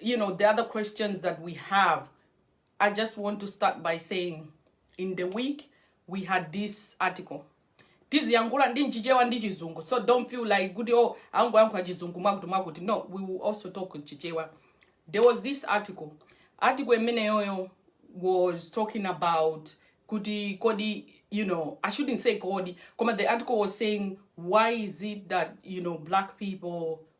you know, the other questions that we have, I just want to start by saying in the week we had this article. tiziyankhula ndi chichewa ndi chizungu so don't feel like kuti oh angoyankhula chizungu mwakuti mwakuti no we will also talk in chichewa there was this article article imeneyoyo was talking about kuti kodi you know i shouldn't say kodi koma the article was saying why is it that you know black people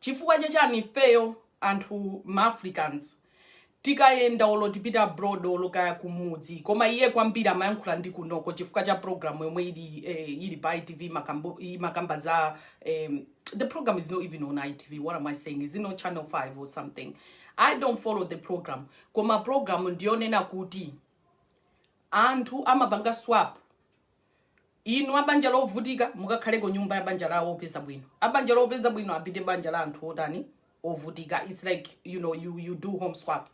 chifukwa cha chani ifeyo anthu ma africans tikayenda olo tipite abroad olo kaya kumudzi koma iye kwambiri amayankhula ndi kunoko chifukwa cha program yomwe ili eh, ili pa itv makambo- imakamba za em, the program is not even on itv what am i saying is it not channel 5 or something i don't follow the program koma program ndiyonena kuti anthu amapanga swap Inu abanja lovutika mukakhale ku nyumba ya banja la opeza bwino. Abanja lopeza bwino apite banja la anthu otani ovutika. It's like you know you you do home swap.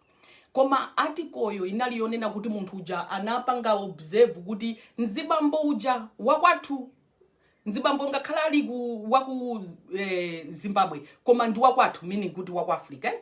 Koma article yo inali yonena kuti munthu uja anapanga observe kuti nzibambo uja wakwathu nzibambo ngakhale ali ku waku eh, Zimbabwe koma ndi wakwathu meaning kuti waku Africa eh?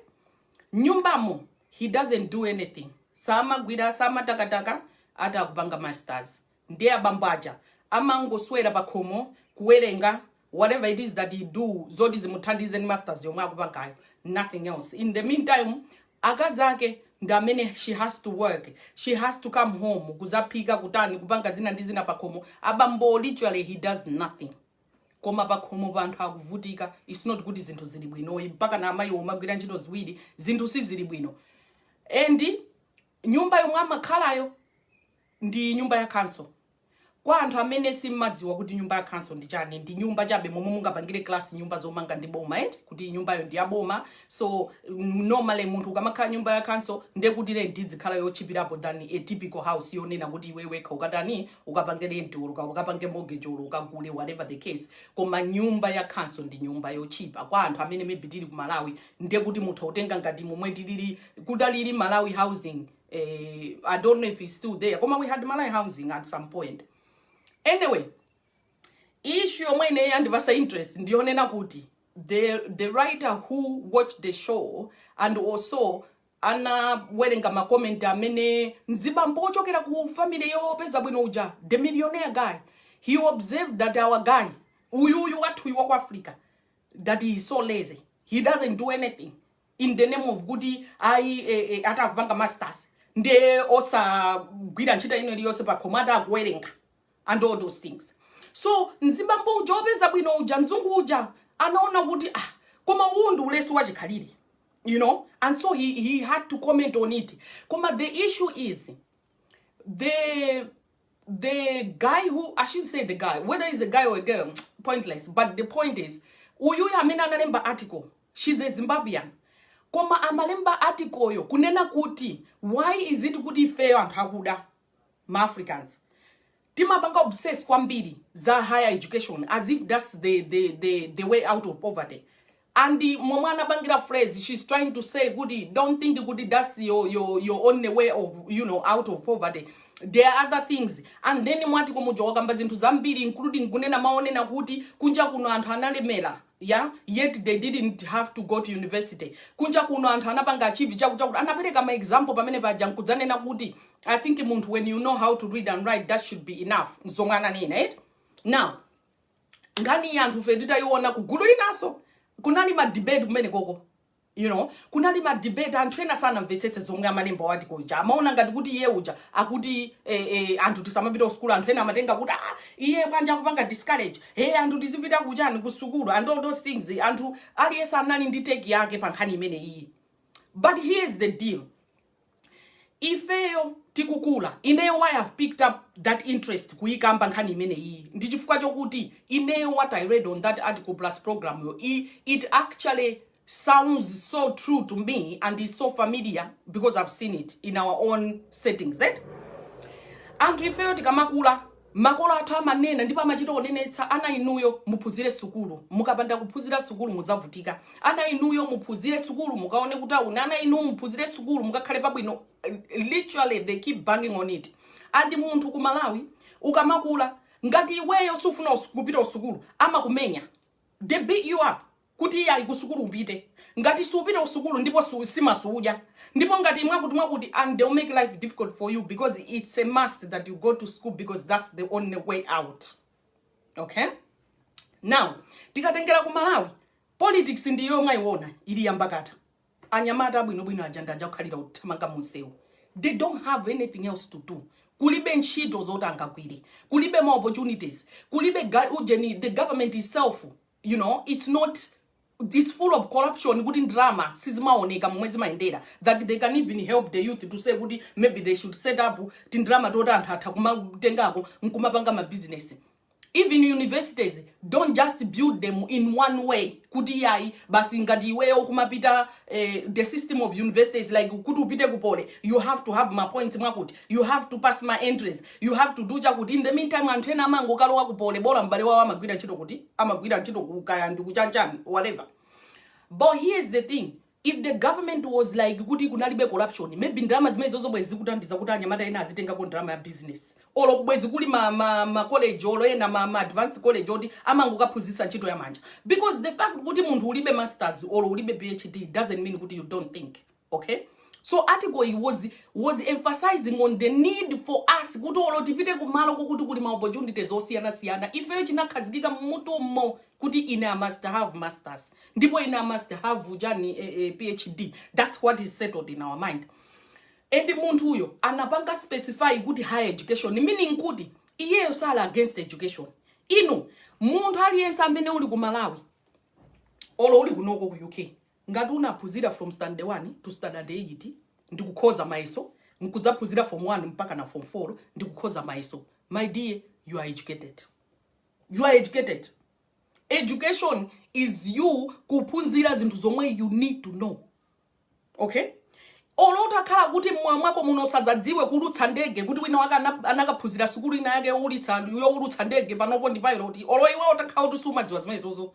nyumbamo he doesn't do anything samagwira samatakataka ati akupanga masters Ndiye abambo aja amangoswera pakhomo kuwerenga whatever it is that he do zoti zimuthandize ndi masters yomwe akupangayo nothing else in the meantime akazi ake ndi amene she has to work she has to come home kuzaphika kutani kupanga zina ndi zina pakhomo abambo literally he does nothing koma pakhomo pa anthu akuvutika its not kuti zinthu zili bwinoyi mpaka na amayi amagwira ntchito ziwiri zinthu sizili bwino and nyumba yomwe amakhalayo ndi nyumba ya khanso. Kwa anthu amene sim'madziwa kuti nyumba ya khanso ndi chani, ndi nyumba chabe momwe mungapangire class nyumba zomanga ndi boma eti, kuti nyumbayo ndi ya boma, so normally munthu ukamakhala nyumba ya khanso nde kuti rent idzikhala yotchipirapo than a typical house yonena kuti iwe wekha ukatani, ukapange rent or uka- ukapange mortgage or ukagule whatever the case. Koma nyumba ya khanso ndi nyumba yotchipa kwa anthu amene maybe tili ku Malawi, nde kuti mutha kutenga ngati momwe tilili, kutalili Malawi housing Eh, I don't know if it's still there. Koma we had Malawi housing at some point. Anyway, issue yomwe ine yandipasa interest ndiyonena kuti the, the writer who watched the show and also anawerenga makomenti amene mzibambo ochokera ku family yopeza bwino uja the millionaire guy he observed that our guy uyuyu wathuyu wa ku africa that he is so lazy he doesn't do anything in the name of kuti ayi eh, eh, ati akupanga masters nde osagwira ntchito ina iliyonse pakhomo ati akuwerenga and all those things so mzibambo uja opeza bwino uja mzungu uja anaona kuti ah koma uwu ndi ulesi wachikhalire you know and so he, he had to comment on it koma the issue is the the guy who i should say the guy whether he's a guy or a girl pointless but the point is uyuyu amene analemba article she's a zimbabwean koma amalemba article yo kunena kuti why is it kuti ifeyo anthu akuda ma africans timapanga obsess kwambiri za higher education as if that's the, the, the, the way out of poverty and momwe anapangira phrase she's trying to say kuti don't think kuti that's your, your, your only way of you know out of poverty there are other things and then mwati kumuja wakamba zinthu zambiri including kunena amanena kuti kunja kuno anthu analemera yeah yet they didn't have to go to university kunja kuno anthu anapanga achieve chakuti chakuti anapereka ma example pamene paja nkudzanena kuti i think munthu when you know how to read and write that should be enough zomwe ananena right now nkhani iyi anthufe titayiona kugulu linanso kunali ma debate kumene koko you know kunali ma debate anthu ena sanamvetsetse zomwe amalemba mwati muja amaona ngati kuti iye uja akuti eh, eh, anthu tisamapita kusukulu anthu ena amatenga kuti ah, iye bwanji akupanga discourage hey, anthu tizipita kuchani kusukulu and all those things anthu aliyense anali ndi take yake pa nkhani imene iyi but here is the deal ifeyo tikukula ineyo why i've picked up that interest kuyikamba nkhani imene iyi ndi chifukwa chokuti ineyo what i read on that article plus program yo i- it actually sounds so true to me and is so familiar because i've seen it in our own settings eh? anthu ifeyo tikamakula Makolo athu amanena ndipo amachita kunenetsa ana inuyo muphunzire sukulu mukapanda kuphunzira sukulu muzavutika ana inuyo muphunzire sukulu mukaone kutauni ana inu muphunzire sukulu mukakhale pabwino literally they keep banging on it and munthu ku Malawi ukamakula ngati iweyo siufuna us- kupita usukulu amakumenya they beat you up kuti iyayi kusukulu upite ngati siupite kusukulu ndipo su, nsima suudya ndipo ngati mwakuti mwakuti and they'll make life difficult for you because it's a must that you go to school because that's the only way out okay now tikatengera ku malawi politics ndi yomwe mwaiona ili yankhakata anyamata abwinobwino aja ndi aja kukhalira kuthamanga munsewu they don't have anything else to do kulibe ntchito zoti angagwire kulibe ma opportunities kulibe ga- ujeni the government itself you know it's not it's full of corruption kuti ndalama sizimaoneka momwe zimayendera that they can even help the youth to say kuti maybe they should set up tindalama toti anthu atha kumatengako nkumapanga mabizinesi even universities don't just build them in one way kuti iyayi basi ngati iweyo kumapita eh, the system of universities like kuti upite ku Poly you have to have mapoints mwakuti you have to pass my entries You have to do chakuti. In the meantime, anthu ena amangokalowa ku Poly bola m'bale wawo amagwira ntchito kuti amagwira ntchito ku kaya ndi kuchanchani whatever. But here's the thing. If the government was like kuti kunalibe corruption, maybe ndalama zimene zozo bwezi zikuthandiza kuti anyamata ena azitengako ndalama ya business. Olo bwezi kuli ma, ma, ma college olo ena ma, ma advanced college oti amangokaphunzitsa ntchito ya manja. Because the fact kuti munthu ulibe masters olo ulibe PhD doesn't mean kuti you don't think. okay so article iyi was, was emphasizing on the need for us kuti olo tipite kumalo kokuti kuli ma opportunities osiyanasiyana ifeyo chinakhazikika m'mutumo kuti ine i must have masters ndipo ine i must have ujani eh, eh, phd that's what is settled in our mind and munthuyo anapanga specify kuti higher education meaning kuti iyeyo sali against education ino munthu aliyense amene uli ku malawi olo uli kunoko ku uk Ngati unaphunzira from standard 1 to standard 8 ndikukhoza mayeso nkudzaphunzira form 1 mpakana form 4 ndikukhoza mayeso my dear you are educated you are educated education is you kuphunzira zinthu zomwe you need to know okay olo utakhala kuti mmoyo mwako muno usazadziwe kuulutsa ndege kuti wina wake ana- anakaphunzira sukulu ina yake youlitsa youlutsa ndege panopo ndi pilot olo iwe utakhala kuti sumadziwa zimenezozo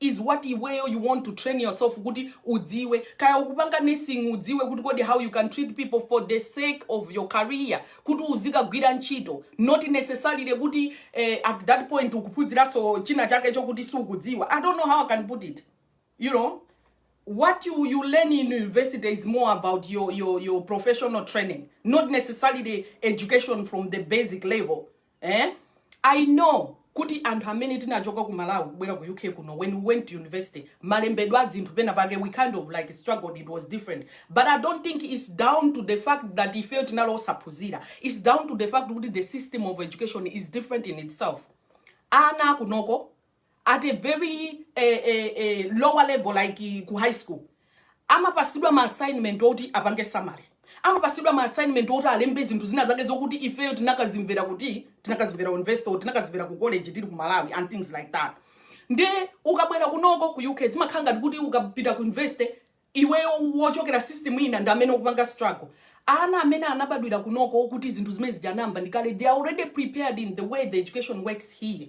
is what iweyo you want to train yourself kuti udziwe kaya ukupanga nursing udziwe kuti kodi how you can treat people for the sake of your career kuti uzikagwira ntchito not necessarily kuti eh, at that point ukuphunziranso china chake chokuti sukudziwa i don't know how i can put it you know what you, you learn in university is more about your, your, your professional training, not necessarily the education from the basic level. eh? i know kuti anthu amene tinachoka ku malawi kubwera ku uk kuno when we went to university malembedwe a zinthu pena pake we kind of like struggled it was different but i don't think it's down to the fact that ifeyo tinali osaphunzira it's down to the fact kuti the system of education is different in itself ana akunoko at a very eh, eh, eh, lower level like ku high school amapatsidwa ma assignment oti apange summary amapatsidwa ma assignment oti alembe zinthu zina zake zokuti ifeyo tinakazimvera kuti tinakazimvera university or tinakazimvera ku college tili ku malawi and things like that nde ukabwera kunoko ku uk zimakhala ngati kuti ukapita ku university iweyo wochokera system ina ndi amene ukupanga struggle ana amene anabadwira kunoko kuti zinthu zimene zija anayamba ndi kale they are already prepared in the way the education works here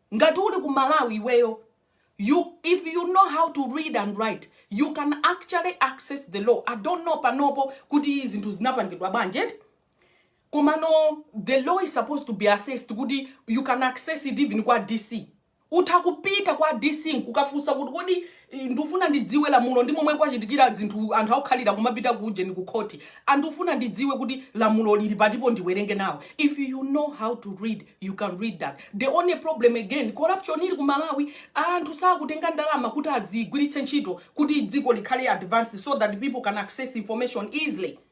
Ngati uli ku Malawi iweyo if you know how to read and write you can actually access the law. I don't know panopo kuti zinthu zinapangidwa bwanji eti komano the law is supposed to be accessed kuti you can access it even kwa DC. Utha kupita kwa DC nkukafunsa kuti kodi I, ndufuna ndidziwe lamulo ndi momwe kwachitikira zinthu anthu akukhalira kumapita ku ujeni ku khoti a ndufuna ndidziwe kuti lamulo lili patipo ndiwerenge nawo if you know how to read you can read that the only problem again corruption ili ku malawi anthu sakutenga ndalama kuti azigwiritse ntchito kuti dziko likhale advanced so that people can access information easily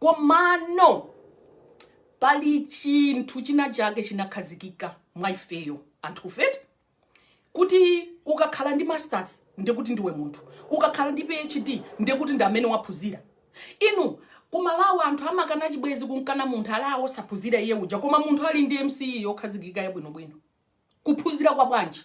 komano pali chinthu china chake chinakhazikika mwa ifeyo anthufe eti kuti ukakhala ndi masters ndekuti ndiwe munthu ukakhala ndi phd ndekuti ndi amene waphunzira inu kumalawi anthu amakana chibwezi kunkana munthu ali awo osaphunzira iye uja koma munthu ali ndi mce yokhazikika yabwinobwino kuphunzira kwa bwanji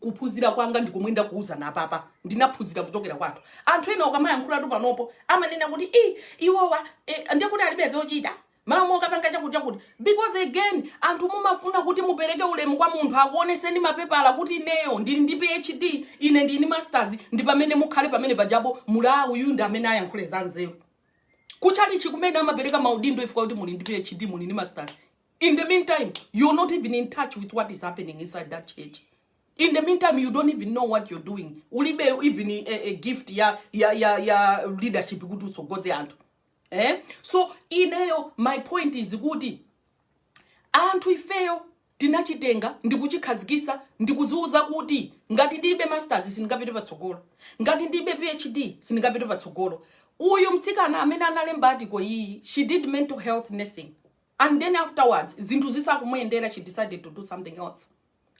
kuphunzira kwanga ndikomwe ndakuuzani apapa ndinaphunzira kuchokera kwathu anthu ena ukamayankhulatu panopo amanena kuti i iwowa e, ndiye kuti alibe zochita malo mokapanga chakuti chakuti because again anthu mumafuna kuti mupereke ulemu kwa munthu akuoneseni mapepala kuti ineyo ndili ndi phd ine ndili ndi masters ndi pamene mukhale pamene pajapo muli uyu ndi amene ayankhule za nzeru kuchalichi kumene amapereka maudindo chifukwa kuti muli ndi phd muli ndi masters In the meantime, you're not even in touch with what is happening inside that church. In the meantime, you don't even know what you're doing. Ulibe even a, a gift ya, ya, ya, ya leadership kuti utsogoze anthu. Eh? So, ineyo, my point is kuti, anthu ifeyo tinachitenga ndikuchikhazikisa ndikuziuza kuti ngati ndilibe masters sindingapite patsogolo ngati ndilibe phd sindingapite patsogolo uyu mtsikana amene analemba article iyi she did mental health nursing and then afterwards zinthu zisakumuyendera she decided to do something else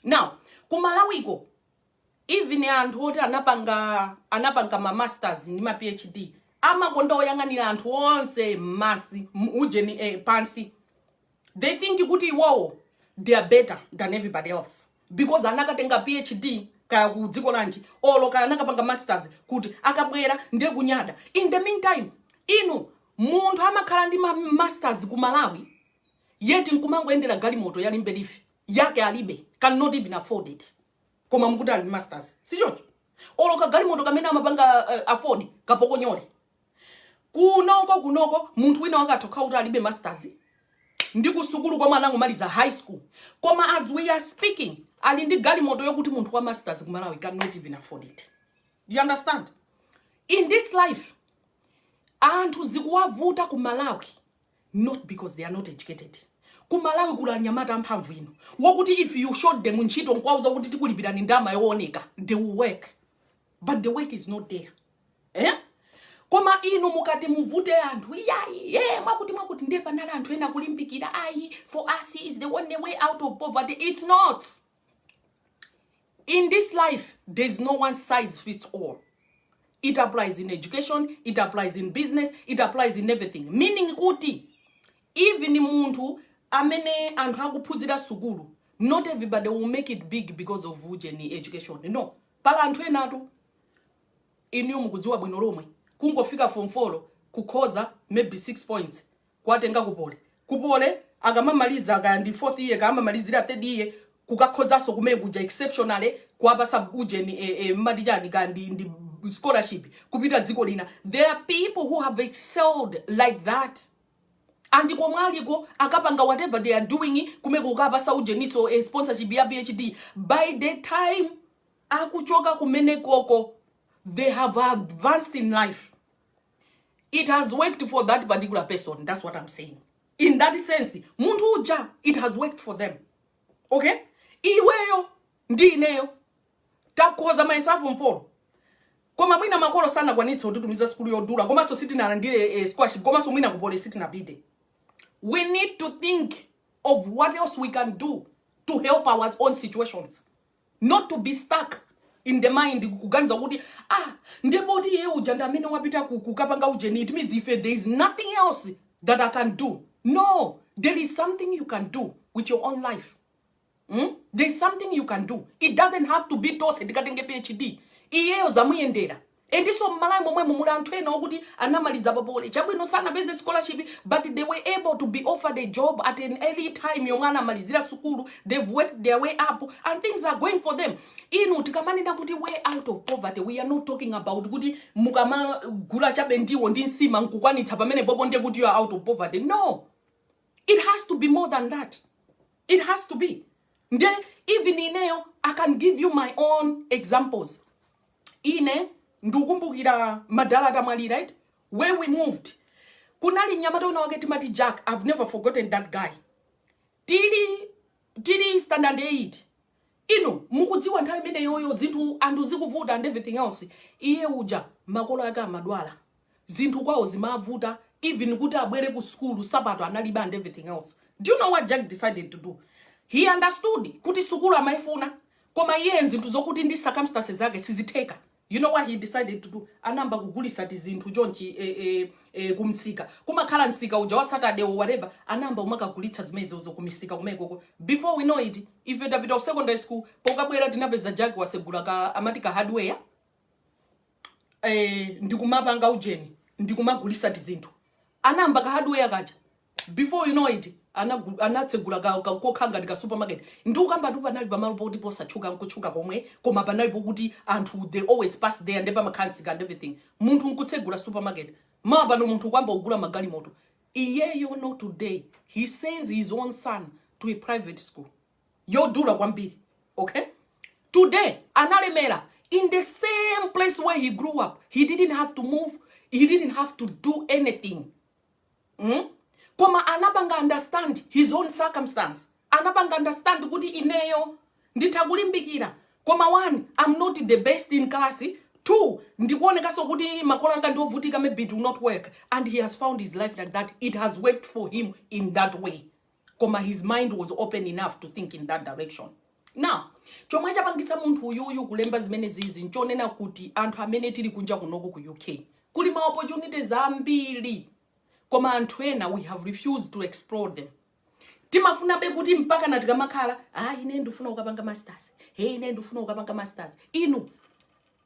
now kumalawiko even anthu oti anapanga anapanga ma masters ndi ma phd amakonda kuyang'anira anthu onse mmasi m- ujeni eh, pansi they think kuti iwowo they are better than everybody else because anakatenga phd kaya ku dziko lanji olo kaya anakapanga masters kuti akabwera ndiye kunyada in the meantime inu munthu amakhala ndi ma masters ku malawi yet nkumangoyendera galimoto ya Limbe Leaf yake alibe cannot even afford it koma mukuti ali ndi masters sichocho olo kagalimoto kamene amapanga uh, afford kapokonyole kunoko kunoko munthu wina akathe kukhala kuti alibe masters ndi kusukulu komwe anangomaliza high school koma as we are speaking ali ndi galimoto yokuti munthu wa masters ku malawi cannot even afford it you understand in this life anthu zikuwavuta ku malawi not because they are not educated ku malawi kuli anyamata amphamvu inu wokuti if you show them ntchito nkwauza kuti tikulipirani ndama yooneka they will work but the work is not there eh? koma inu mukati muvute anthu iyayi eh, mwakuti mwakuti ndiye panali anthu ena kulimbikira ayi for us is the only way out of poverty it's not in this life there's no one size fits all it applies in education it applies in business it applies in everything meaning kuti even munthu amene anthu akuphunzira sukulu not everybody will make it big because of ujeni education no pali anthu enatu inuyo mukudziwa bwino lomwe kungofika form 4 kukhoza maybe 6 points kuwatenga ku poly ku poly akamamaliza kaya ndi fourth year kaya amamalizira third year kukakhozanso kumene kuja exceptionally kuwapatsa ujeni eh, eh, mmati chani kaya ndi, ndi scholarship kupita dziko lina there are people who have excelled like that and komwe aliko akupanga whatever they are doing kumeko kukapatsa ujeninso eh, sponsorship ya phd by the time akuchoka kumenekoko they have advanced in life it has worked for that particular person that's what i'm saying in that sense munthu uja it has worked for them okay iweyo ndi ineyo takhoza mayeso a form 4 koma mwina makolo sanakwanitse kutitumiza sukulu yodula komanso sitinalandire eh, scholarship komanso mwina ku poly sitinapite we need to think of what else we can do to help our own situations not to be stuck in the mind kuganiza kuti ah ndiye poti iye uja ndi amene wapita ku- kukapanga ujeni it means ife there is nothing else that i can do no there is something you can do with your own life Mm? There's something you can do. It doesn't have to be tose ndikatenge PhD. Iyeyo zamuyendera. Ndiponso m'malawi momwemu muli anthu ena okuti anamaliza pa poly chabwino sanapeze scholarship but they were able to be offered a job at an early time yomwe anamalizira sukulu they've worked their way up and things are going for them inu tikamanena kuti way out of poverty we are not talking about kuti mukamagula chabe ndiwo ndi nsima nkukwanitsa pamene popo ndiye kuti you are out of poverty no it has to be more than that it has to be nde even ineyo i can give you my own examples ine ndukumbukira madala atamwalira right where we moved kunali mnyamata wina wake timati jack i've never forgotten that guy tili tili standard 8 inu mukudziwa nthawi imeneyoyo zinthu anthu zikuvuta and everything else iye uja makolo ake amadwala zinthu kwawo zimavuta even kuti abwere ku sukulu sapato analibe and everything else do you know what jack decided to do he understood kuti sukulu amayifuna koma iye zinthu zokuti ndi circumstances zake sizitheka you know what he decided to do anayamba kugulitsa tizinthu chonchi eh, eh, eh, kumsika kumakhala msika uja wa saturday or whatever anayamba umakagulitsa zimenezozo kumisika kumekoko before we know it ife tapita ku secondary school pokabwera tinapeza jack wasegula ka amati ka hardware eh, ndikumapanga ujeni ndikumagulitsa tizinthu anayamba ka hardware kaja before you know it anagu- anatsegula ka- ka- kokhala ngati ka supermarket ndikukambatu panali pamalo poti posatchuka nkutchuka komwe koma panali pokuti anthu they always pass there nde pamakhala msika and everything munthu nkutsegula supermarket mawa pano munthu kuyamba kugula magalimoto iyeyo no today he sends his own son to a private school yodula kwambiri okay today analemera in the same place where he grew up he didn't have to move he didn't have to do anything mm? koma anapanga understand his own circumstance anapanga understand kuti ineyo nditha kulimbikira koma one i'm not the best in class two ndikuonekanso kuti makolo anga ndiovutika maybe it will not work and he has found his life like that it has worked for him in that way koma his mind was open enough to think in that direction now chomwe chapangisa munthu uyuyu kulemba zimene zizi nchonena kuti anthu amene tili kunja kunoko ku uk kuli ma opportunities ambiri koma anthu ena we have refused to explore them timafunabe kuti mpaka na tikamakhala ah ine ndifuna kukapanga masters hey ine ndifuna kukapanga masters inu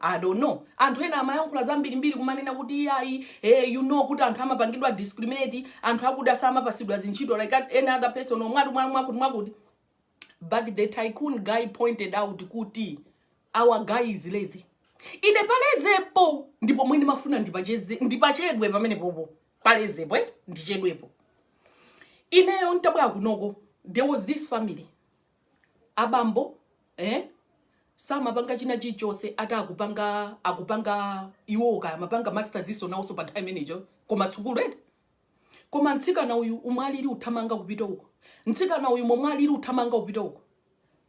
I don't know. Anthu ena amayankhula zambirimbiri kumanena kuti iyayi eh, you know kuti anthu amapangidwa discriminate anthu akuda samapatsidwa zintchito like any other person or mwakuti mwa- mwakuti mwakuti but the tycoon guy pointed out kuti our guy is lazy ine pa lazy po ndipo pomwe ndimafuna ndipacheze ndipachedwe pamene popo pa lazy po eh? ndichedwepo ineyo ntabwera kunoko there was this family abambo eh samapanga china chilichonse ati akupanga akupanga iwo kaya amapanga masters he's also a part time manager koma sukulu eti koma mtsikana uyu mmene aliri uthamanga kupita uko mtsikana uyu momwe aliri uthamanga kupita uko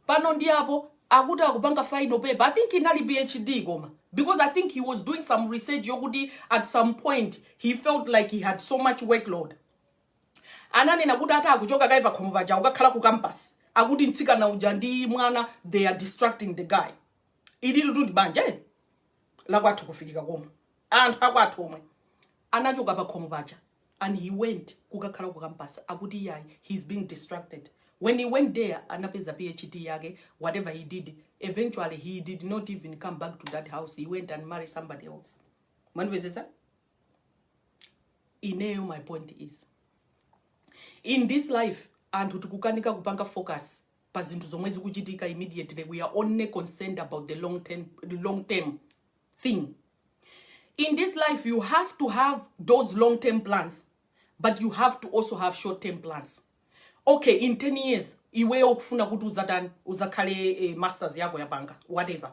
pano ndi apo akuti akupanga final paper i think inali phd koma because i think he was doing some research yokuti at some point he felt like he had so much workload ananena kuti ati akuchoka kaye pakhomo paja akukakhala ku campus akuti mtsikana uja ndi mwana they are distracting the guy ililitu ndi banja eh? lakwathu kufikika komwe anthu akwathu omwe anachoka pakhomo paja and he went kukakhala ku campus akuti iyayi he's being distracted when he went there anapeza phd yake whatever he did eventually he did not even come back to that house he went and married somebody else manipezesa ineyo my point is in this life anthu tikukanika kupanga focus pa zinthu zomwe zikuchitika immediately we are only concerned about the long term, the long term thing in this life you have to have those long term plans but you have to also have short term plans okay in 10 years iweyo ukufuna kuti uzatani uzakhale eh, masters yako yapanga whatever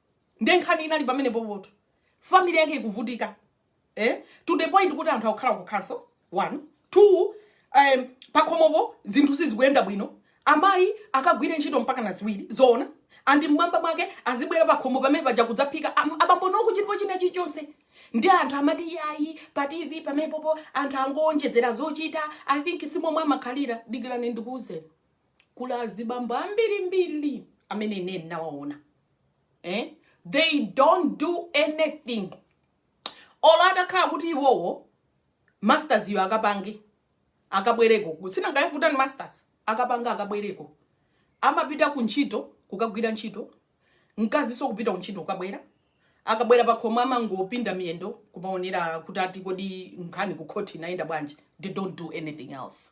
nde nkhani inali pamene popoto family yake ikuvutika eh? to the point kuti anthu akukhala ku council one two um, pakhomopo zinthu sizikuyenda bwino amayi akagwire ntchito mpaka na ziwiri zoona and mmwamba mwake azibwera pakhomo pamene paja kudzaphika am- abambo nokuchitipo china chilichonse ndi anthu amati yayi pa tv pamepopo anthu angowonjezera zochita i think simomwe amakhalira dikirani ndikuwuzeni kuli azibambo ambirimbiri amene ine ndinawaona eh? they don't do anything olo atakhala kuti iwowo masters iyo akapange akabwereko kutsina ngayavuta ni masters akapanga akabwereko amapita ku ntchito kukagwira ntchito mkazinso kupita ku ntchito kukabwera akabwera pakhomo amangopinda miyendo kumaonera kuti ati kodi nkhani ku court inayenda bwanji they don't do anything else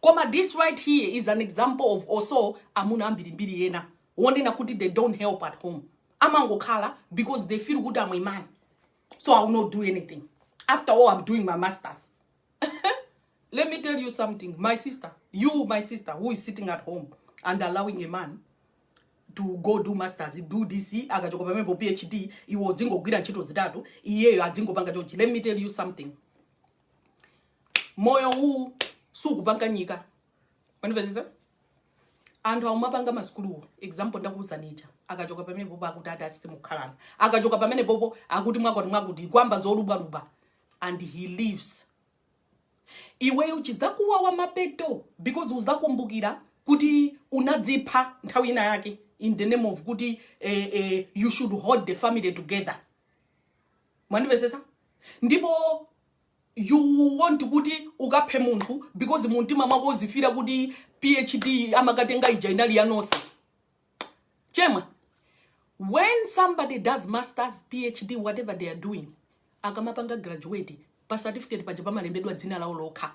Koma dis right here is an example of also amuna ambirimbiri ena wonena kuti they don't help at home amangokhala because they feel kuti am a man so i will not do anything after all i'm doing my masters let me tell you something my sister you my sister who is sitting at home and allowing a man to go do masters do this akachoka pamene phd iwo dzingogwira ntchito zitatu iyeyo adzingopanga chonchi let me tell you something moyo uwu sukupanga nyika mwandivetsetsa anthu amapanga masukuluwo example ndakuuzani ija akachoka pamene popo akuti ati asisi mukhalana akachoka pamene popo akuti mwakwati mwakuti kuyamba zolubwalubwa and he leaves iweyo chizakuwawa mapeto because uzakumbukira kuti unadzipha nthawi ina yake in the name of kuti eh, eh, you should hold the family together mwandivetsetsa ndipo you want kuti ukaphe munthu because mumtima mwako uzifila kuti phd amakatenga ija inali ya nonse chemwa when somebody does masters phd whatever they are doing akamapanga graduate pa certificate paja pamalembedwa dzina lawo lokha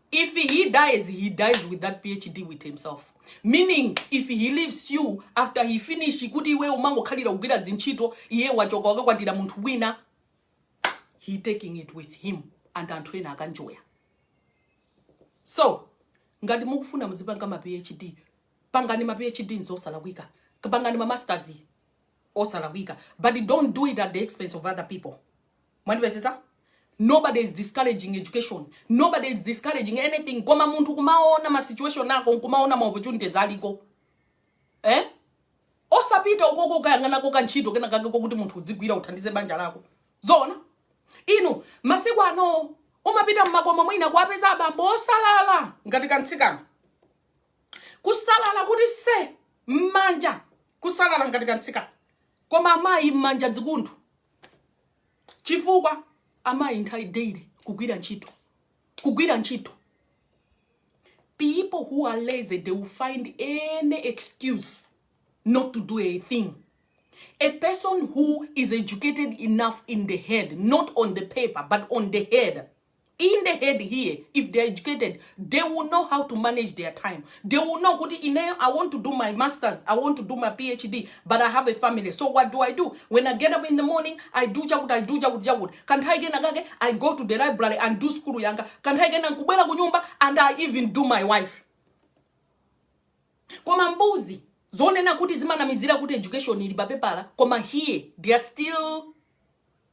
if he dies he dies with that phd with himself meaning if he leaves you after he finish kuti iwe umangokhalira kugwira dzintchito iye wachoka wakakwatira munthu wina he taking it with him and anthu ena akaenjoya so ngati mukufuna muzipanga ma phd pangani ma phd nzosalakwika pangani ma masters osalakwika but don't do it at the expense of other people Mwandivetsetsa? Nobody is discouraging education, nobody is discouraging anything koma munthu kumaona ma situation ako nkumaona ma opportunities aliko eh? osapita ukoko ukayang'anako ka ntchito kena kake kokuti munthu udzigwira uthandize banja lako zoona inu masiku ano umapita mmakomo mwina kuwapeza abambo osalala ngati kamtsikana kusalala kuti se mmanja kusalala ngati kamtsikana koma amayi mmanja zikunthu chifukwa amayi nthawi daily kugwira ntchito kugwira ntchito people who are lazy they will find any excuse not to do a thing a person who is educated enough in the head not on the paper but on the head in the head here if they're educated they will know how to manage their time they will know kuti ineyo i want to do my masters i want to do my phd but i have a family so what do i do when i get up in the morning i do chakuti i do chakuti chakuti kanthawi kena kake i go to the library and do school yanga kanthawi kena nkubwera ku nyumba and i even do my wife koma mbuzi zonena kuti zimanamizira kuti education ili papepala koma here they are still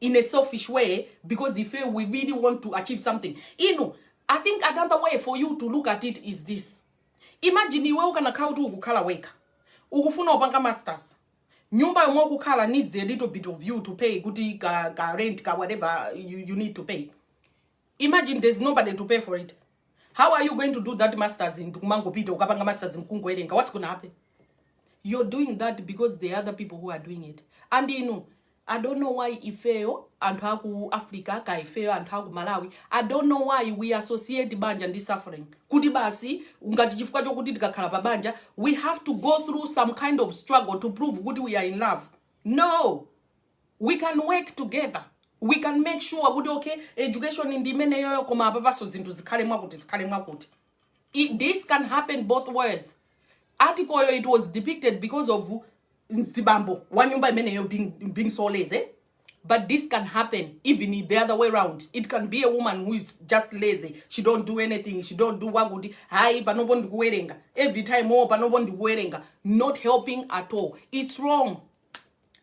in a selfish way because he feel we really want to achieve something inu i think another way for you to look at it is this imagine iwe ukanakhala kuti ukukhala wekha ukufuna upanga masters nyumba yomwe ukukhala needs a little bit of you to pay kuti ka, ka rent ka whatever you, you need to pay Imagine there's nobody to pay for it how are you going to do that masters nkumangopita ukapanga masters nkungowerenga what's gonna happen you're doing that because there are other people who are doing it and you know i don't know why ifeyo anthu aku africa ka ifeyo anthu aku malawi i don't know why we associate banja ndi suffering kuti basi ngati chifukwa chokuti tikakhala pa banja we have to go through some kind of struggle to prove kuti we are in love no we can work together we can make sure kuti okay education ndi imeneyoyo koma apapaso zinthu zikhale mwakuti zikhale mwakuti this can happen both ways article yo it was depicted because of mzibambo wa nyumba imeneyo being, being so lazy but this can happen even the other way round it can be a woman who is just lazy she don't do anything she don't do wakuti hayi panopo ndikuwerenga every time oh panopo ndikuwerenga not helping at all it's wrong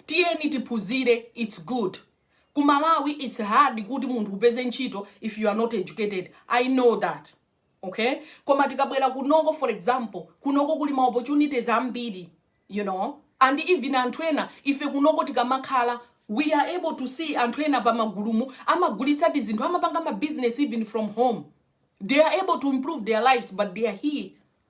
tiyeni tiphuzire its good ku malawi its hard kuti munthu upeze ntchito if you are not educated i know that okay koma tikabwera kunoko for example kunoko kuli ma opportunities ambiri you know and even anthu ena ife kunoko tikamakhala we are able to see anthu ena pa magulupu amagulitsa tizinthu amapanga ma business even from home they are able to improve their lives but they are here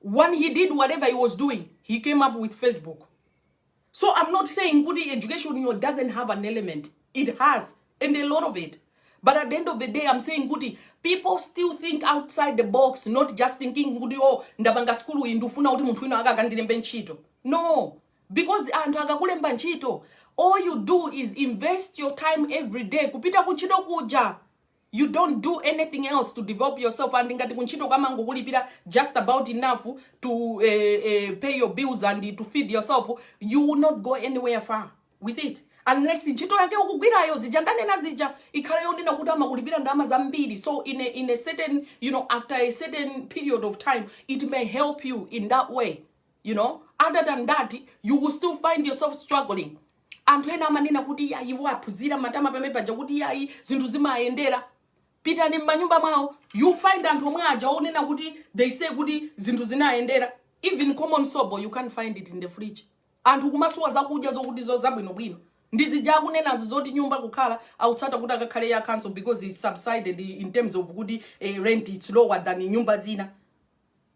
when he did whatever he was doing he came up with facebook so i'm not saying kuti education yo doesn't have an element it has and a lot of it but at the end of the day i'm saying kuti people still think outside the box not just thinking kuti oh ndapanga skulu iyi ndifuna kuti munthu wina akakandilembe ntchito no because anthu akakulemba ntchito all you do is invest your time every day kupita kuntchito kuja you don't do anything else to develop yourself and ngati kuntchito kamangokulipira just about enough to eh, eh, pay your bills and to feed yourself you will not go anywhere far with it unless ntchito yake ukugwirayo zija ndanena zija ikhale yondina kuti amakulipira ndalama zambiri so in a, in a certain you know after a certain period of time it may help you in that way you know other than that you will still find yourself struggling anthu ena amanena kuti ya iwo aphunzira matama pamene paja kuti yayi zinthu zimayendera pitani m'manyumba mwawo you find anthu omwe aja onena kuti they say kuti zinthu zinayendera even common sobo you can't find it in the fridge anthu kumasowa zakudya zokuti zo zabwinobwino ndi zija akunenazo zoti nyumba kukhala akutsata kuti akakhale ya council because it's subsided in terms of kuti eh, rent it's lower than nyumba zina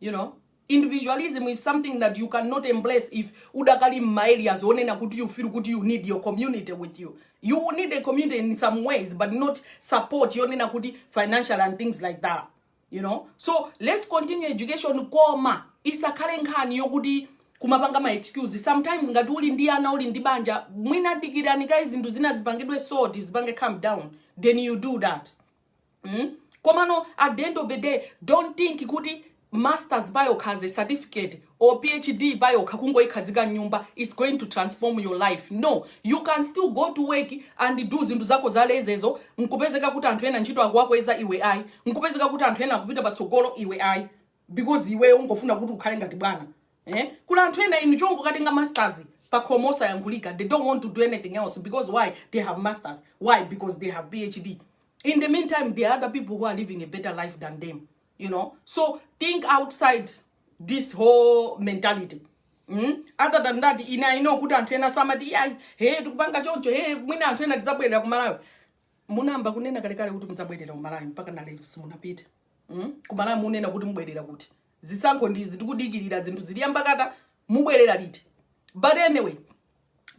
you know individualism is something that you cannot embrace if udakali mma areas onena kuti you feel kuti you need your community with you you will need a community in some ways but not support yonena kuti financial and things like that you know so let's continue education koma isakhale nkhani yokuti kumapanga ma excuse sometimes ngati uli ndi ana uli ndi banja mwina dikirani kaye zinthu zina zipangidwe sort zipange calm down then you do that mm? komano at the end of the day don't think kuti masters payokha as a certificate or phd payokha kungoyikhazika mnyumba it's going to transform your life no you can still go to work and do zinthu zako zalezezo nkupezeka kuti anthu ena ntchito akuwakweza iwe ayi nkupezeka kuti anthu ena akupita patsogolo iwe ayi because iweyo ungofuna kuti ukhale ngati bwana eh? kuli anthu ena inu chongokatenga masters pakhomo osayankhulika they don't want to do anything else because why they have masters why because they have phd in the meantime there are other people who are living a better life than them you know so think outside this whole mentality Mm? other than that ine i know kuti anthu ena amati iyayi he tikupanga choncho he mwina anthu ena tizabwerera kumalawi munayamba kunena kalekale kuti mudzabwerera kumalawi mpaka nalero simunapita mm? kumalawi munena kuti mubwerera kuti zisankho ndizi tikudikirira zinthu zili yambakata mubwerera liti but anyway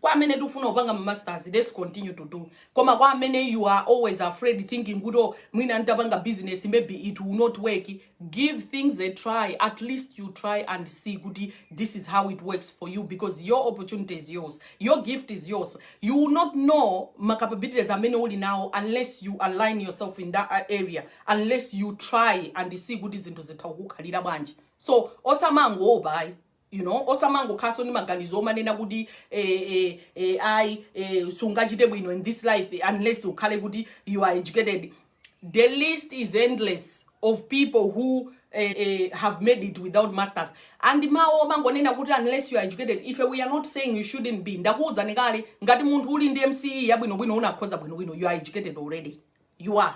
kwa amene tikufuna kupanga masters let's continue to do koma kwa amene you are always afraid thinking kuti oh, mwina nditapanga business maybe it will not work give things a try at least you try and see kuti this is how it works for you because your opportunity is yours your gift is yours you will not know ma capabilities amene uli nawo unless you align yourself in that uh, area unless you try and see kuti zinthu zitha kukukhalira bwanji so osamangoopa ayi you know osamangokhalanso ndi maganizo omanena kuti eh, eh, eh, ayi eh, sungachite bwino in this life eh, unless ukhale kuti you are educated the list is endless of people who eh, eh, have made it without masters and mawo omangonena kuti unless you are educated ife we are not saying you shouldn't be ndakuwuzani kale ngati munthu uli ndi mce yabwinobwino unakhoza bwinobwino you are educated already you are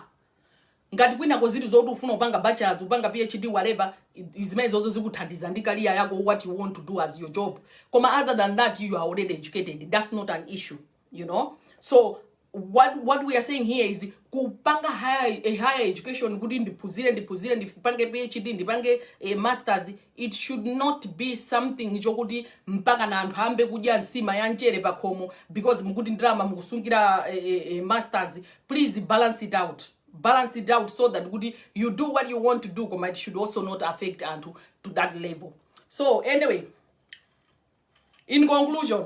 ngati kwinako zitu zoti ufuna kupanga bachelors kupanga phd whatever i- zimene zozo zikuthandiza ndi career yako what you want to do as your job koma other than that you are already educated that's not an issue you know so what, what we are saying here is kupanga higher, a higher education kuti ndiphunzire ndiphunzire ndipange phd ndipange eh, masters It should not be something chokuti mpakana anthu ayambe kudya nsima ya mchere pakhomo because mukuti ndalama mukusungira eh, eh, eh, masters please balance it out balance it out so that kuti you do what you want to do koma it should also not affect anthu to that level so anyway in conclusion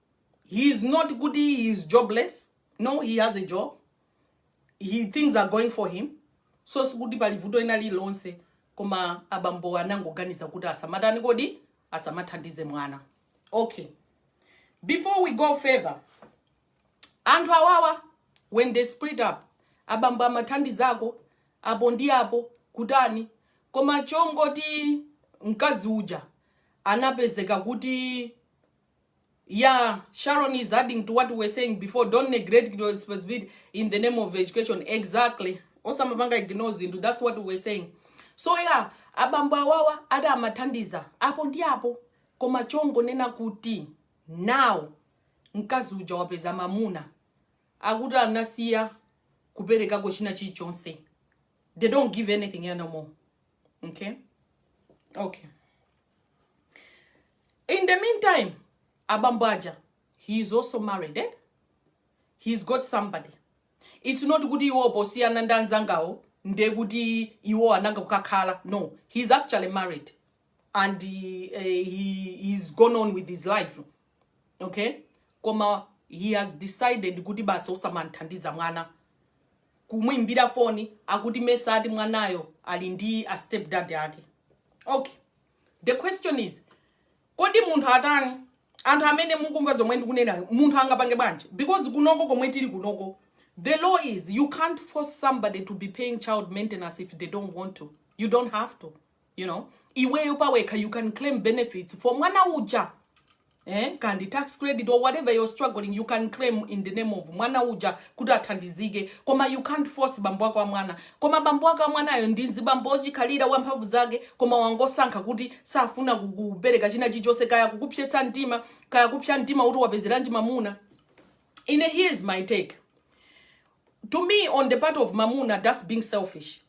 he is not kuti he is jobless no he has a job he things are going for him so sikuti pali vuto lina lililonse koma abambo anangoganiza kuti asamatani kodi asamathandize mwana okay before we go further anthu awawa when they split up abambo amathandizako apo ndi apo kutani koma chongoti mkazi uja anapezeka kuti Yeah, Sharon is adding to what we were saying before. Don't neglect your responsibility in the name of education. Exactly. Osamapanga ignore zinthu. That's what we were saying. So yeah, abambo awawa ada amathandiza apo ndi apo koma chongonena kuti now mkazi uja wapeza mamuna akuti anasiya kuperekako china chilichonse they don't give anything anymore okay okay In the meantime, abambo aja, he is also married, eh? He's got somebody. It's not kuti iwo posiyana ndi anzangawo nde kuti iwo anangokakhala. No, he's actually married and he, uh, he he's gone on with his life. Okay? Koma he has decided kuti basi osamamthandiza mwana kumwimbira foni akuti mesa ati mwanayo ali ndi a stepdad ake. Okay. the question is kodi munthu atani anthu amene mukumva zomwe ndikunena munthu angapange bwanji because kunoko komwe tili kunoko the law is you can't force somebody to be paying child maintenance if they don't want to you don't have to you know iweyo pawekha you can claim benefits for mwana uja eh, kaya ndi tax credit or whatever you're struggling you can claim in the name of mwana uja kuti athandizike koma you can't force bambo wake wa mwana koma bambo wake wa mwanayo ndi mzibambo wochikhalira wamphamvu zake koma wangosankha kuti safuna kukupereka china chilichonse kaya kukupsetsa mtima kaya kupsa mtima kuti wapezeranji mamuna ine here is my take to me on the part of mamuna that's being selfish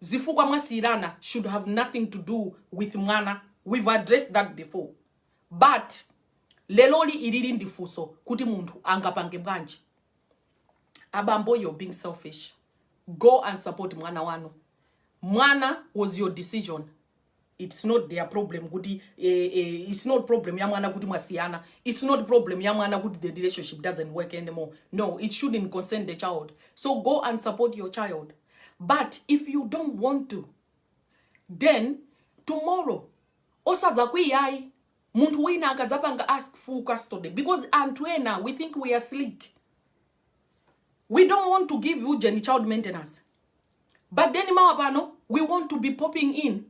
zifukwa mwasiyirana should have nothing to do with mwana we've addressed that before but leloli ilili ndi funso kuti munthu angapange bwanji abambo you're being selfish go and support mwana wanu mwana was your decision its not their problem kuti eh, eh, its not problem ya mwana kuti mwasiyana its not problem ya mwana kuti the relationship doesn't work anymore no it shouldn't concern the child so go and support your child but if you don't want to then tomorrow osazakwiyayi munthu wina akazapanga ask full custody because anthu ena we think we are slick we don't want to give ujeni child maintenance but then mawa pano we want to be popping in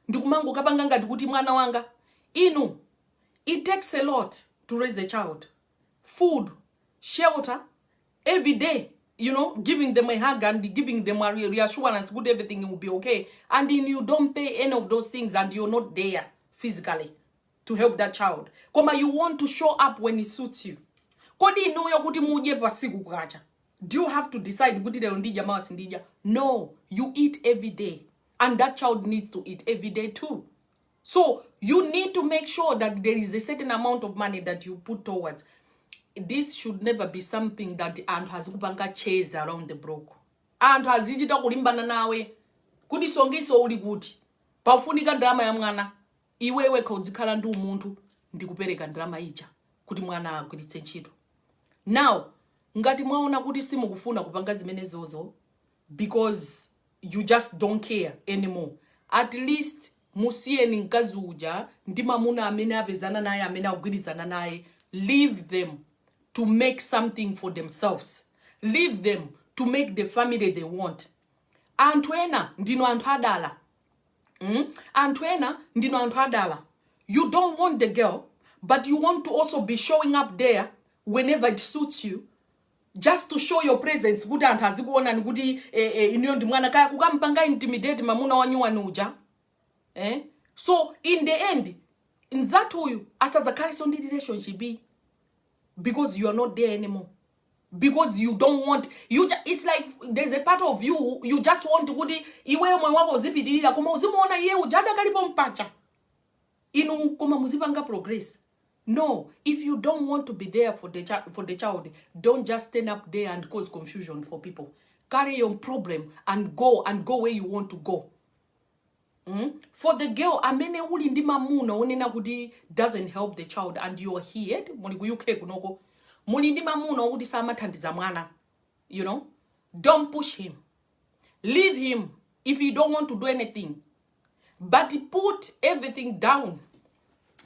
ndikumangokapanga ngati kuti mwana wanga inu it takes a lot to raise a child food shelter every day you know giving them a hug and giving them a re- reassurance good everything will be okay and then you don't pay any of those things and you're not there physically to help that child koma you want to show up when it suits you kodi inuyo kuti mudye pasiku kukacha do you have to decide kuti lero ndidya mawa sindidya no you eat every day and that child needs to eat every day too so you need to make sure that there is a certain amount of money that you put towards this should never be something that anthu azikupanga chase around the block anthu azichita kulimbana nawe kuti sonkho uli kuti pafunika ndalama ya mwana Iwe wekha udzikhala ndi umunthu ndi kupereka ndalama ija kuti mwana agwiritse ntchito. Now ngati mwaona kuti simukufuna kupanga zimenezozo because you just don't care anymore, at least musiyeni mkazi uja ndi mamuna amene apezana naye amene agwirizana naye, leave them to make something for themselves, leave them to make the family they want. Anthu ena ndinu anthu adala. mm? anthu ena ndinu anthu adala you don't want the girl but you want to also be showing up there whenever it suits you just to show your presence kuti anthu azikuonani kuti eh, eh, ineyo ndi mwana kaya kukampanga intimidate mamuna wanyuwani uja eh? so in the end nzathuyu asazakhalenso ndi relationship because you are not there anymore because you don't want you ju- it's like there's a part of you you just want kuti iweyo moyo wako uzipitirira koma uzimuona iye uja adakalipo mpacha inu koma muzipanga progress no if you don't want to be there for the, chi- for the child don't just stand up there and cause confusion for people carry your problem and go and go where you want to go mm? for the girl amene uli ndi mamuna onena kuti doesn't help the child and you are here muli ku uk kunoko muli ndi mamuna okuti samathandiza mwana you know don't push him leave him if he don't want to do anything but put everything down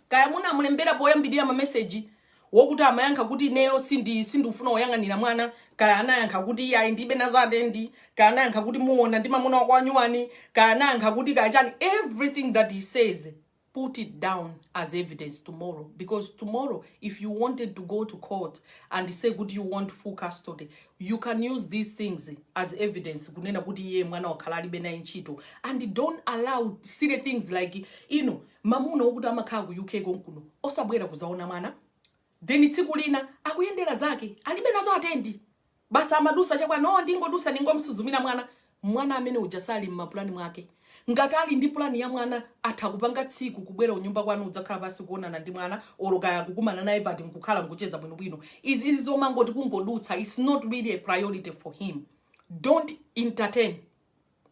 kaya munamulembera poyambirira mameseji wokuti amayankha kuti ineyo sindifuna kuyang'anira mwana kaya anayankha kuti iyayi ndibe nazo atendi kaya anayankha kuti muona ndi mamuna wako wanyuwani kaya anayankha kuti kaya chani everything that he says put it down as evidence tomorrow because tomorrow if you wanted to go to court and say kuti you want full custody you can use these things as evidence kunena kuti iye mwana wakhala alibe naye ntchito and don't allow silly things like you know mamuna okuti amakhala ku UK konkuno osabwera kuzaona mwana then tsiku lina akuyendera zake alibe nazo atendi basa amadusa cha kwanu ndingodusa ndingomsuzumira mwana mwana amene uja sali mmapulani mwake ngati ali ndi pulani ya mwana atha kupanga tsiku kubwera unyumba kwanu kudzakhala pansi kuonana ndi mwana oro kaya kukumana naye pati nkukhala nkucheza bwinobwino izi izi zomangoti kungodutsa its not really a priority for him don't entertain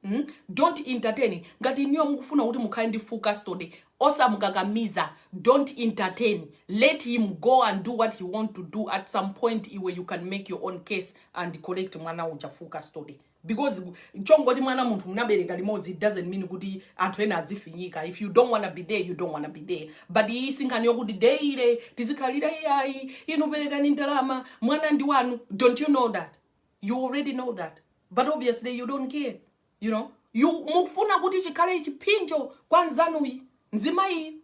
mm? don't entertain ngati inuyo mukufuna kuti mukhale ndi full custody osamukakamiza don't entertain let him go and do what he want to do at some point where you can make your own case and collect mwana uja full custody because chongoti mwana munthu munabereka limodzi it doesn't mean kuti anthu ena adzifinyika if you don't wanna be there you don't wanna be there but iyi sinkhani yokuti deire tizikhalira iyayi inu perekani ndalama mwana ndi wanu don't you know that you already know that but obviously you don't care you know you mukufuna kuti chikhale chiphinjo kwa nzanuyu nzimayi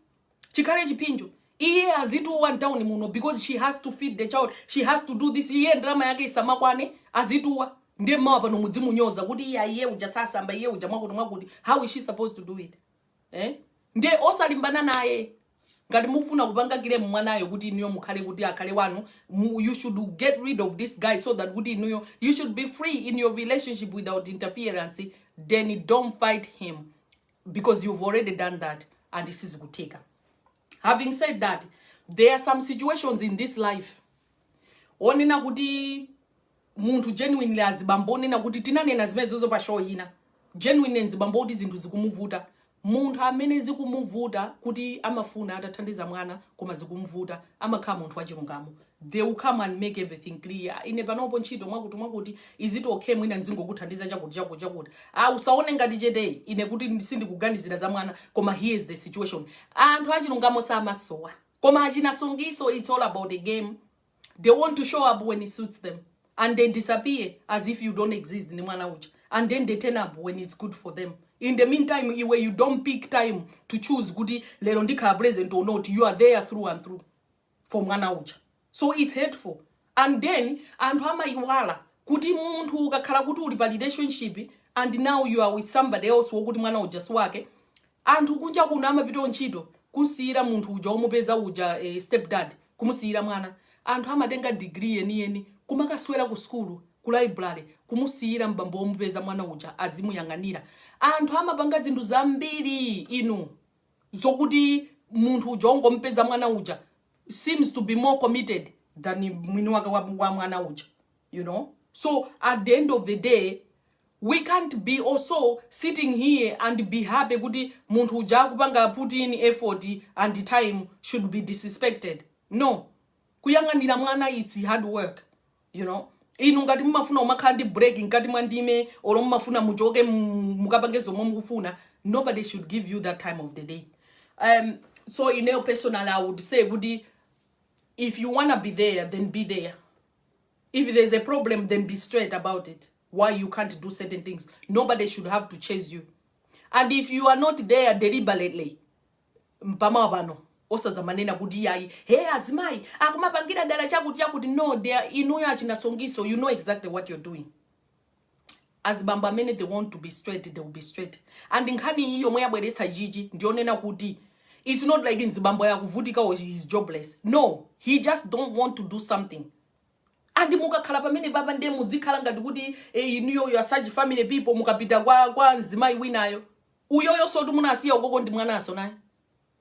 chikhale chiphinjo iye azituwa mtauni muno because she has to feed the child she has to do this iye ndalama yake isamakwane azituwa ndiye mmawa pano mudzimunyoza kuti iye iye uja sasamba iye uja mwakuti mwakuti how is she supposed to do it eh? ndiye osalimbana naye ngati mufuna kupanga kilemu mwanayo kuti inuyo mukhale kuti akhale wanu mu, you should get rid of this guy so that kuti inuyo you should be free in your relationship without interference then don't fight him because you've already done that and sizikutheka having said that there are some situations in this life onena kuti munthu genuinely azibambo onena kuti tinanena zimenezozo pa show ina genuinely nzibambo kuti zinthu zikumuvuta munthu amene zikumuvuta kuti amafuna atathandiza mwana koma zikumvuta amakhala munthu wachilungamo they will come and make everything clear ine panopo ntchito mwakuti mwakuti is it okay mwina nzingokuthandiza chakuti chakuti chakuti ah usaone ngati cheteyu ine kuti ndi- sindikuganizira za mwana koma here is the situation anthu achilungamo samasowa koma achinasungiso it's all about the game they want to show up when it suits them and they disappear as if you don't exist ndi mwana uja and then they turn up when it's good for them in the meantime iwe you don't pick time to choose kuti lero ndikhala president or not you are there through and through for mwana uja so it's hateful and then anthu amayiwala kuti munthu ukakhala kuti uli pa relationship and now you are with somebody else wokuti mwana uja si wake Anthu kunja kuno amapita kuntchito kumsiyira munthu uja womupeza uja ee step dad kumusiyira mwana. Anthu amatenga degree yeniyeni kumakaswera ku sukulu ku library kumusiyira m'bambo womupeza mwana uja azimuyang'anira. Anthu amapanga zinthu zambiri inu zokuti munthu uja wongomupeza mwana uja seems to be more committed than mwini wake wa wa mwana uja you know. So at the end of the day we can't be also sitting here and be happy kuti munthu uja akupanga put in effort and time should be disrespected no kuyang'anira mwana is hard work you know inu ngati mumafuna umakhala ndi break mkati mwa ndime olo mumafuna muchoke mu- mukapange zomwe mukufuna nobody should give you that time of the day um, so ineyo personally i would say kuti if you wanna be there then be there If there's a problem then be straight about it why you can't do certain things. Nobody should have to chase you. And if you are not there deliberately, mpama pano osazamanena kuti iyayi hey azimai akumapangira dala chakuti chakuti no they are inuyo achinasongiso you know exactly what you're doing azibambo amene they want to be straight they will be straight and nkhani iyi yomwe yabweretsa Chichi ndiyonena kuti it's not like nzibambo yakuvutika or he is jobless no he just don't want to do something andi mukakhala pamene papa ndiye mudzikhala ngati kuti eh, inuyo you are such family people mukapita kwa kwa mzimayi winayo uyoyo kuti munasiya ukoko ndi mwanaso naye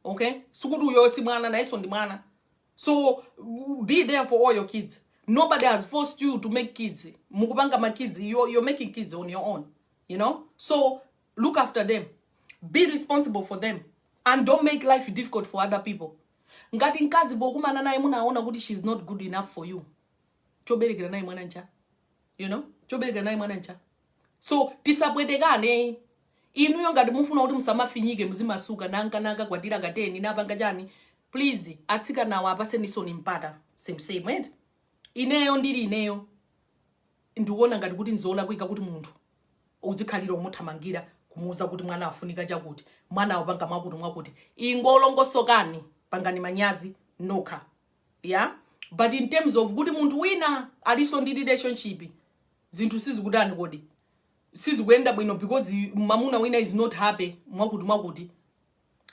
okay sikuti uyoyo si mwana nayenso ndi mwana so be there for all your kids nobody has forced you to make kids mukupanga ma kids you're, you're making kids on your own you know so look after them be responsible for them and don't make life difficult for other people ngati mkazi pokumana naye munaona kuti she's not good enough for you choberekera naye mwana ncha you know choberekera naye mwana ncha so tisapwetekane inuyo ngati mufuna kuti musamafinyike muzimasuka nanga nkakwatira ka 10 ndapanga chani please atsikanawa apatseninsoni mpata same same eti ineyo ndili ineyo ndikuona ngati kuti nzolakwika kuti munthu udzikhalira umuthamangira kumuuza kuti mwana afunika chakuti mwana wapanga mwakuti mwakuti ingolongosokani pangani manyazi nokha ya but in terms of kuti munthu wina aliso ndi relationship zinthu sizikutani kodi sizikuyenda bwino because mamuna wina is not happy mwakuti mwakuti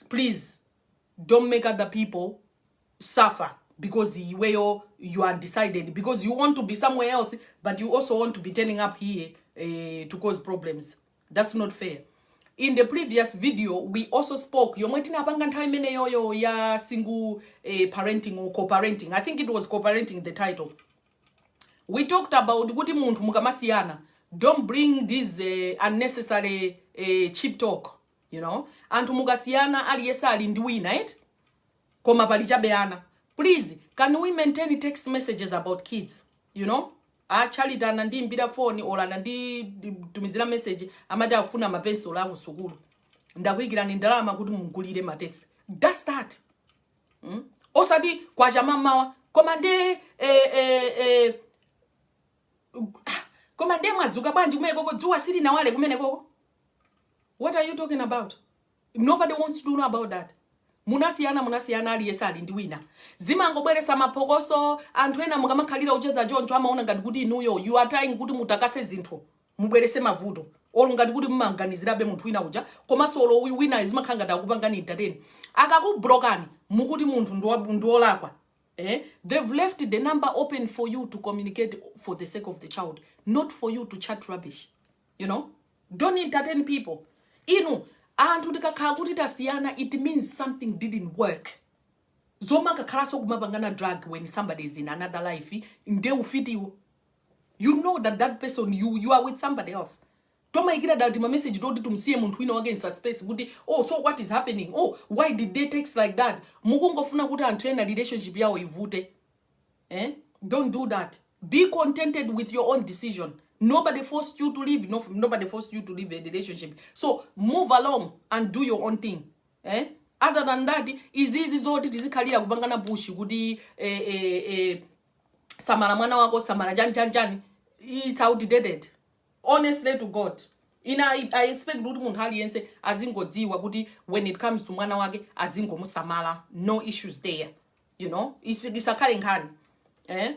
please don't make other people suffer because iweyo you are undecided because you want to be somewhere else but you also want to be turning up here uh, to cause problems that's not fair in the previous video we also spoke yomwe tinapanga nthawi imeneyoyo ya single uh, parenting or co-parenting i think it was co-parenting the title we talked about kuti munthu mukamasiyana don't bring this uh, unnecessary uh, cheap talk you know anthu mukasiyana aliyese ali ndi wina et koma pali chabe ana please can we maintain text messages about kids you know achalita anandiimbira foni olo ananditumizira message amati afuna mapensulo akusukulu ndakuikirani ndalama kuti mumugulire matext thats that mm? osati kwacha mamawa koma nde eh, eh, eh, ah, koma nde mwadzuka bwanji kumene koko dzuwa silinawale kumene koko what are you talking about nobody wants to know about that munasiyana munasiyana aliyense ali ndi wina zimangobweresa maphokoso anthu ena mukamakhalira ucheza choncho amaona ngati kuti inuyo you are trying kuti mutakase zinthu mubwerese mavuto olo ngati kuti mumanganizirabe munthu wina uja komanso olo uyu winayo zimakhala ngati akupangani entertain akakublokani mukuti munthu ndiwa- ndiwolakwa eh? they've left the number open for you to communicate for the sake of the child not for you to chat rubbish you know don't entertain people inu anthu tikakhala kuti tasiyana it means something didn't work zoma kakhalanso kumapangana drag when somebody is in another life nde ufitiwo you know that that person you, you are with somebody else tomayikira dala timameseji toti tumsiye munthu wina wake in suspense kuti oh so what is happening oh why did they text like that mukungofuna kuti anthu ena relationship yawo ivute eh? don't do that be contented with your own decision nobody forced you to leave no, nobody forced you to leave a relationship so move along and do your own thing eh? other than that izizi zoti tizikhalira kupangana pushi kuti eh, eh, eh, samala mwana wako samala chani chani chani its outdated honestly to god ine I, i expect kuti munthu aliyense azingodziwa kuti when it comes to mwana wake azingomusamala no issues there you know Isi- isakhale nkhani eh?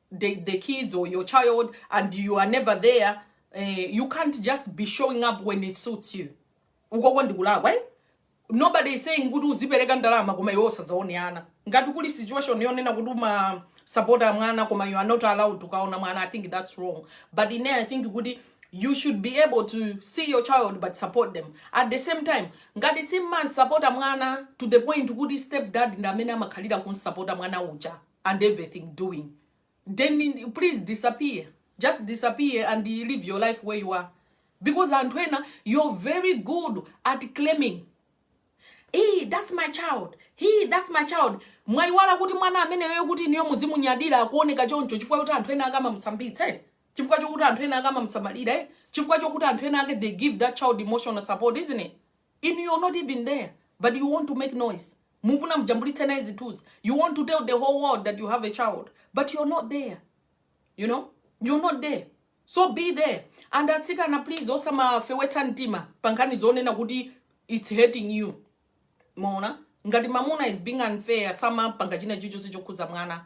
the, the kids or your child and you are never there uh, you can't just be showing up when it suits you ukonso ndikulakwa eh? nobody is saying kuti uzipereka ndalama koma iwe osazaone ana ngati kuli situation yonena kuti umasupporta mwana koma you are not allowed kukaona mwana i think that's wrong but ine i think kuti you should be able to see your child but support them at the same time ngati simumansupporta mwana to the point kuti step dad ndi amene amakhalira kunsupporta mwana uja and everything doing then please disappear just disappear and live your life where you are because anthu ena you're very good at claiming hey, that's my child hey, that's my child mwaiwala kuti mwana ameneyo kuti inuyo muzimunyadira akuoneka choncho chifukwa kuti anthu ena akamamusambitsa eh? chifukwa chokuti anthu ena akamamusamalira eh? chifukwa chokuti anthu ena ake they give that child emotional support isn't it Inu you're not even there but you want to make noise mufuna mujambulitse naye zithunzi you want to tell the whole world that you have a child but you're not there you know you're not there so be there and atsikana please osamafewetsa mtima pankhani zonena kuti it's hurting you maona ngati mamuna is being unfair samapanga china chichonse chokhudza mwana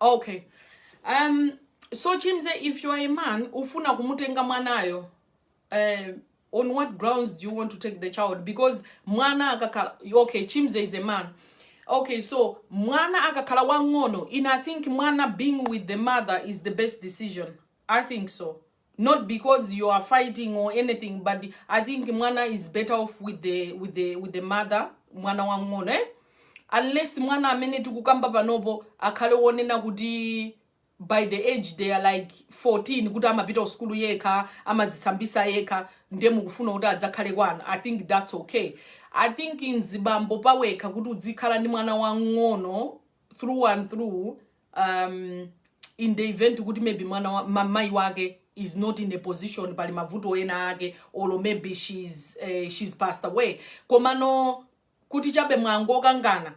okay um so chimze if you are a man ufuna kumutenga mwanayo uh, on what grounds do you want to take the child because mwana akakhala okay chimze is a man okay so mwana akakhala wang'ono in i think mwana being with the mother is the best decision i think so not because you are fighting or anything but i think mwana is better off with the, with the, with the mother mwana wang'ono eh? unless mwana amene tikukamba panopo akhale wonena kuti by the age they are like 14 kuti amapita kusukulu yekha amazisambisa yekha ndiye mukufuna kuti adzakhale kwana i think that's okay i think mzibambo pawekha kuti udzikhala ndi mwana wang'ono through and through um, in the event kuti maybe mwana wa, ma, mai wake is not in a position pali mavuto ena ake or maybe she's, uh, she's passed away komano kuti chabe mwangokangana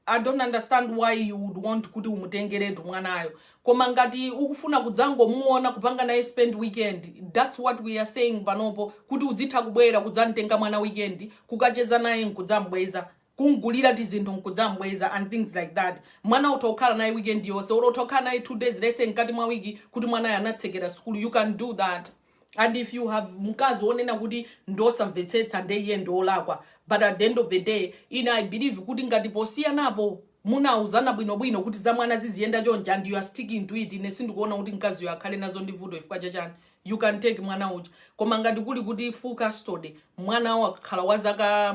i don't understand why you would want kuti umutengeretu mwanayo koma ngati ukufuna kudzangomuona kupanga naye spend weekend that's what we are saying panopo kuti udzitha kubwera kudzamtenga mwana weekend kukacheza naye nkudzambweza kumgulira tizinthu nkudzambweza and things like that. Mwana utha kukhala naye weekend yonse or utha kukhala naye 2 days let's say mkati mwa week kuti mwanayo anatsekera sukulu you can do that and if you have mkazi wonena kuti ndosamvetsetsa nde iye ndiolakwa but at the end of the day ine i believe kuti ngati posiyanapo munauzana bwinobwino kuti za mwana ziziyenda chonchi and you are sticking to it ine sindikuona kuti mkaziyo akhale nazo ndi vuto chifukwa chachani you can take mwana uja koma ngati kuli kuti full custody mwana wakhala wa zaka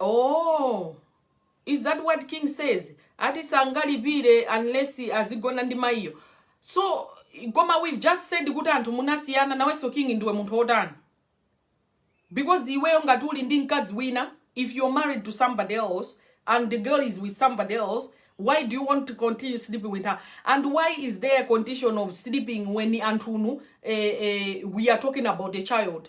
Oh, is that what king says ati sangalipire unless azigona ndi mayiyo so koma we've just said kuti anthu munasiyana nawenso king ndiwe munthu wotani because iweyo ngati uli ndi mkazi wina if you're married to somebody else and the girl is with somebody else why do you want to continue sleeping with her and why is there a condition of sleeping when anthunu eh, eh, we are talking about a child